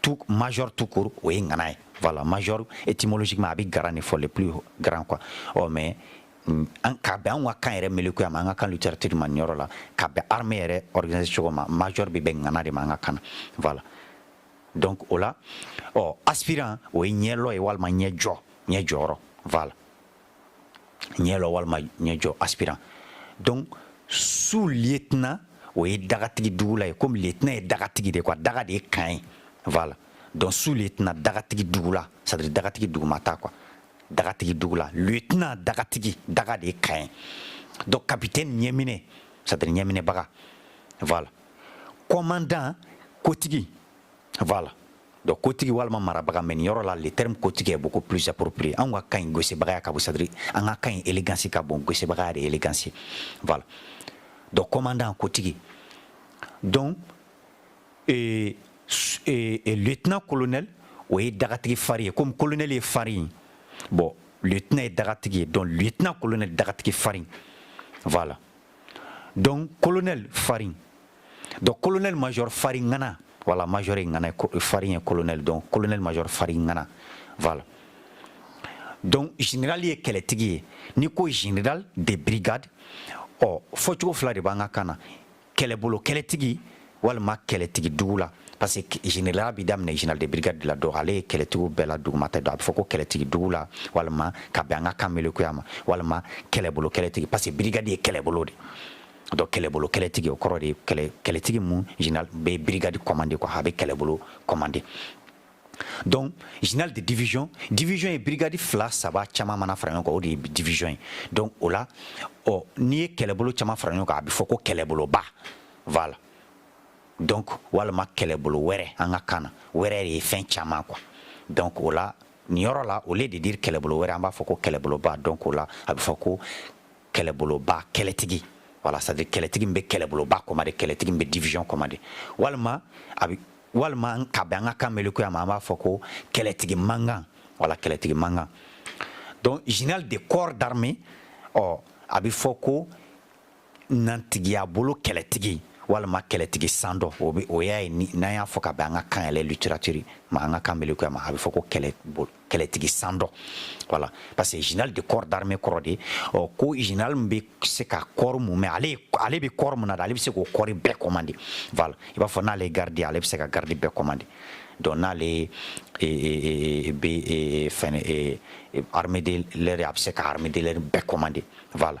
tu major tout court o ye ŋana ye voilà major étymologiquement a bɛ grand de fɔ le plus grand quoi ɔ oh, mais mm, ka bɛn an ka kan yɛrɛ melekuya ma an ka kan littérature ma nin yɔrɔ la ka bɛn armée yɛrɛ organiser cogo ma major bɛ bɛn ŋana de ma an ka kan na voilà donc o la ɔ oh, aspirant o ye ɲɛlɔ ye walima ɲɛjɔ ɲɛjɔyɔrɔ voilà ɲɛlɔ walima ɲɛjɔ aspirant donc sous-lieutenant o ye dagatigi dugula ye comme lieutenant ye dagatigi de quoi daga de ye camp ye voilà donc sous-lieutenant dagatigi dugula c'est à dire dagatigi dugumata quoi dagatigi dugula lieutenant dagatigi daga de ye camp ye donc capitaine ɲɛminɛ c'est à dire ɲɛminɛbaga voilà commandant kotigi voilà donc kotigi walima marabaga mais nin yɔrɔ la le terme kotigi est beaucoup plus approprié anw ka kan in gosebagaya ka bon c'est à dire an ka kan in élégance ka bon gosebagaya de élégance voilà donc commandant kotigi donc et, et, et lieutenant colonel o ye dagatigi farin ye comme colonel ye farin ye bon lieutenant ye dagatigi ye donc lieutenant colonel dagatigi farin voilà donc colonel farin donc colonel major farin ŋana voilà major ye ŋana ye farin ye colonel donc colonel major farin ŋana voilà donc général ye kɛlɛtigi ye n'i ko général de brigade o fɔcogo fila de b'an ka kan na kɛlɛbolo kɛlɛtigi walima kɛlɛtigi dugula parce que général bi daminɛ général de brigade de la donc ale ye kɛlɛtigiw bɛɛ la dugumata donc a bɛ fɔ ko kɛlɛtigi dugula walima ka bɛn an ka kan melekuya ma walima kɛlɛbolo kɛlɛtigi parce que brigade ye kɛlɛbolo de donc kɛlɛbolo kɛlɛtigi o kɔrɔ de kɛlɛ kɛlɛtigi mun général bɛ brigade commande quoi a bɛ kɛlɛbolo commande donc général de division division ye brigade fila saba caman mana fara ɲɔgɔn kan o de ye division ye donc o la ɔ n'i ye kɛlɛbolo caman fara ɲɔgɔn kan a bɛ fɔ ko kɛlɛboloba voilà donc walima kɛlɛbolo wɛrɛ an ka kan na wɛrɛ de ye fɛn caman quoi donc o la nin yɔrɔ la au lieu de dire kɛlɛbolo wɛrɛ an b'a fɔ ko kɛlɛboloba donc o la a bɛ fɔ ko kɛlɛboloba kɛlɛtigi voilà c'est à dire kɛlɛtigi min bɛ kɛlɛboloba commande kɛlɛtigi min bɛ division commande walima a bɛ walima ka bɛn an ka kan melekuya ma an b'a fɔ ko kɛlɛtigi mankan voilà kɛlɛtigi mankan donc général de corps d'armée ɔ a bɛ fɔ ko nantigiya bolo kɛlɛtigi walima kɛlɛtigi sandɔ o bɛ o y'a ye n'an y'a fɔ ka bɛn an ka kan yɛrɛ littérature ma an ka kan melekuya ma a bɛ fɔ ko kɛlɛ kɛlɛtigi sandɔ voilà parce que général de corps d'armée kɔrɔ de ɔ ko général min bɛ se ka corps mumɛ ale ale bɛ corps mun na de ale bɛ se k'o corps bɛɛ commande voilà i b'a fɔ n'ale ye garde ale bɛ se ka garde bɛɛ commande donc n'ale bɛ fɛn armée de l'air a bɛ se ka armée de l'air bɛɛ commande voilà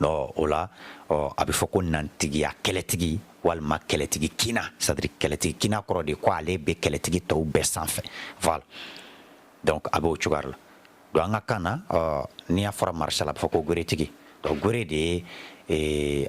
o la a bɛ fɔ ko nantigiya kɛlɛtigi walima kɛlɛtigi kina sadiri kɛlɛtigi kina kɔrɔ de ko ale bɛ kɛlɛtigi tɔw bɛɛ sanfɛ wala dɔnku a b'o cogoya la don an ka kan na n'a fɔra marisala a bɛ fɔ ko geretigi gere de ye